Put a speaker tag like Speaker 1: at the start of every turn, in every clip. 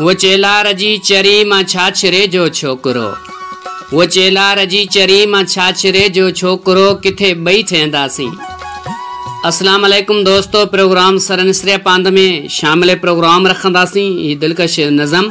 Speaker 1: هو چيلار جي چري مان ڇاڇري جو ڇوڪرو هو چيلار جي چري مان ڇاڇري جو ڇوڪرو ڪٿي ٻئي ٿينداسين. اسلام عليڪم دوستو پروگرام سرنسريا پاند ۾ شامل پروگرام رکنداسين هي دلڪش نظم.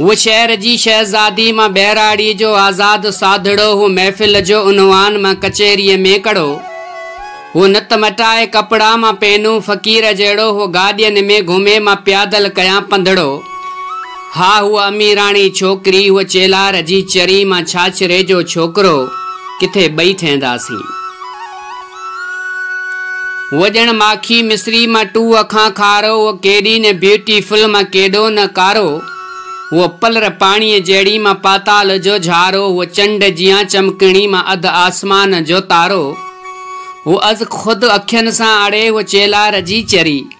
Speaker 1: هو شهر جي شهزادي مان ٻهراڙيء جو آزاد ساڌڙو هو محفل جو عنوان مان ڪچهريء ۾ ڪڙو هو نت مٽائي ڪپڙا مان پينون فقير جهڙو هو گاڏين ۾ گهمي مان پيادل ڪيان پنڌڙو ها هوء اميراڻي ڇوڪري هوء چيلار جي چري مان ڇاڇري جو ڇوڪرو ڪٿي ٻئي ٿينداسين. هوء ڄڻ ماکي مصري مان ٽوء کان کارو، هوء ڪيڏي نه بيوٽي فل مان ڪيڏو نه ڪارو، هوء پلر پاڻيء جهڙي مان پاتال جو جهارو، هوء چنڊ جيان چمڪڻي مان اڌ آسمان جو تارو، هوء از خود اکين سان اڙي، هوء چيلار جي چري.